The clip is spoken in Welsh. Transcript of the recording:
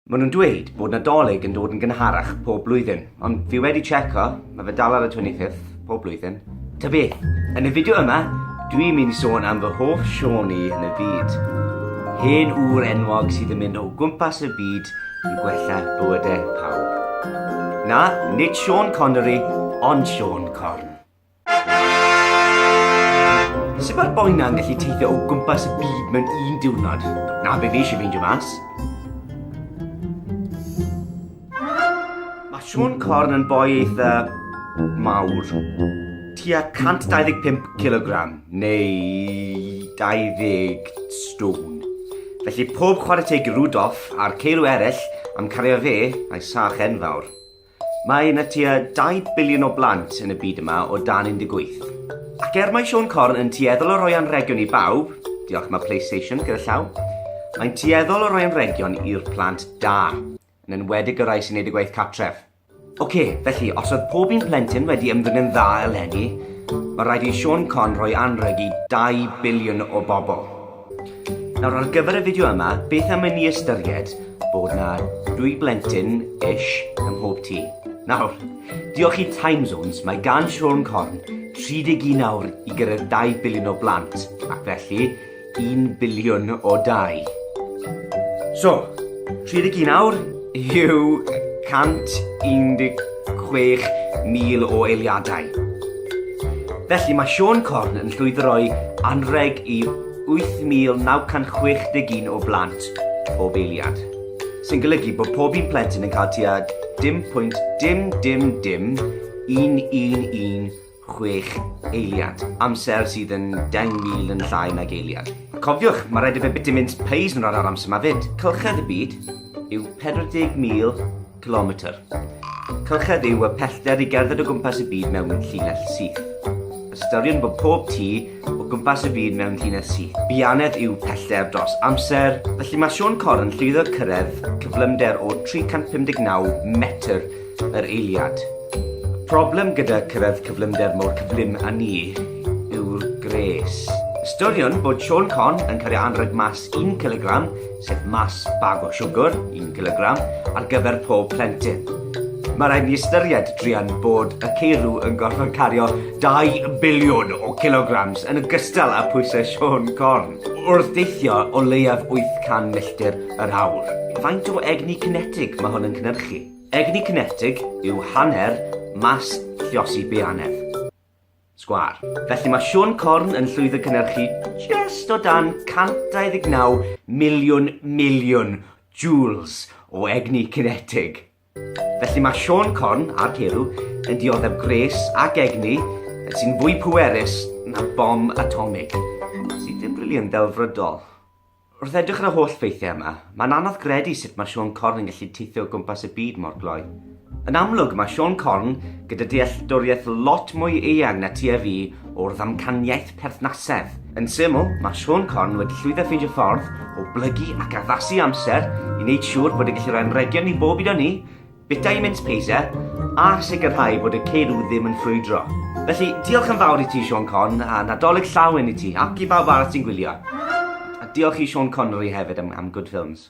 Maen nhw'n dweud bod Nadolig yn dod yn gynharach pob blwyddyn, ond fi wedi tseco, mae fe dal ar y 25th pob blwyddyn. Ta beth, yn y fideo yma, dwi'n mynd i sôn am fy hoff Siôn i yn y byd. Hen ŵr enwog sydd yn mynd o gwmpas y byd yn gwella bywydau pawb. Na, nid Siôn Connery, ond Siôn Corn. Sut mae'r boi na'n gallu teithio o gwmpas y byd mewn un diwrnod? Na be fi eisiau feindio mas. Mae Sean Corn yn boi eitha mawr. Tua 125 kg neu 20 stone. Felly pob chwarae teg i Rudolf a'r ceirw eraill am cario fe a'i sach enfawr. Mae yna tua 2 biliwn o blant yn y byd yma o dan 18. Ac er mae Siôn Corn yn tueddol o roi anrhegion i bawb, diolch mae PlayStation gyda llaw, mae'n tueddol o roi anrhegion i'r plant da, yn enwedig y rai sy'n neud y gwaith catref. Ok, felly, os oedd pob un plentyn wedi ymddwyn yn dda eleni, mae rhaid i Siôn Corn roi anrheg i 2 biliwn o bobl. Nawr ar gyfer y fideo yma, beth am i ni ystyried bod na dwy blentyn ish ym mhob tŷ. Nawr, diolch i Time Zones, mae gan Siôn Corn 31 awr i gyrraedd 2 biliwn o blant, ac felly 1 biliwn o dau. So, 31 awr, yw 116,000 o eiliadau. Felly mae Sean Corn yn llwyddo roi anrheg i 8,961 o blant pob eiliad, sy'n golygu bod pob un plentyn yn cael tua 10.100111 chwech eiliad, amser sydd yn 10,000 yn llai nag eiliad. Cofiwch, mae rhaid i fe biti mynd peis yn yr amser yma fyd. Cylchedd y byd yw 40,000 kilometr. Cylchedd yw y pellter i gerdded o gwmpas y byd mewn llinell syth. Ystyriwn bod pob tu o gwmpas y byd mewn llinell syth. Bianedd yw pellter dros amser, felly mae Sean Corr yn llwyddo cyrraedd cyflymder o 359 metr Yr eiliad. Y problem gyda cyrraedd cyflymder mor cyflym â ni yw'r gwres. Ystyriwn bod Siôn Con yn cario anrheg mas 1 cilogram, sef mas bag o siwgr, 1 cilogram, ar gyfer pob plentyn. Mae rhaid ni ystyried, druan, bod y ceirw yn gorfod cario 2 biliwn o kilograms yn ogystal â pwysau Siôn Corn, wrth deithio o leiaf 800 milltir yr awr. Faint o egni cinetig mae hwn yn cynhyrchu? Egni cinetig yw hanner mas lluosi beanedd. Sgwâr. Felly mae Siôn Corn yn llwyddo cynhyrchu jest o dan 129 miliwn miliwn joules o egni cinetig. Felly mae Siôn Corn a'r Ceirw yn dioddef gwres ac egni sy'n fwy pwerus na bom atomig, sydd yn briliant ddelfrydol. Wrth edrych ar y holl ffeithiau yma, mae'n anodd gredu sut mae Siôn Corn yn gallu teithio o gwmpas y byd mor gloi. Yn amlwg, mae Siôn Corn gyda dealltwriaeth lot mwy eang na ti a fi o'r ddamcaniaeth perthnasedd. Yn syml, mae Siôn Corn wedi llwyddo ffeindio ffordd o blygu ac addasu amser i wneud siŵr bod e'n gallu rhoi anrhegion i bob un o ni, Vitamins please, ie? A sicrhau bod y ceirw ddim yn ffrwydro. Felly, diolch yn fawr i ti, Sean Con, a Nadolig llawen i ti, ac i bawb arall sy'n gwylio. A diolch i Sean Connery hefyd am, am Good Films.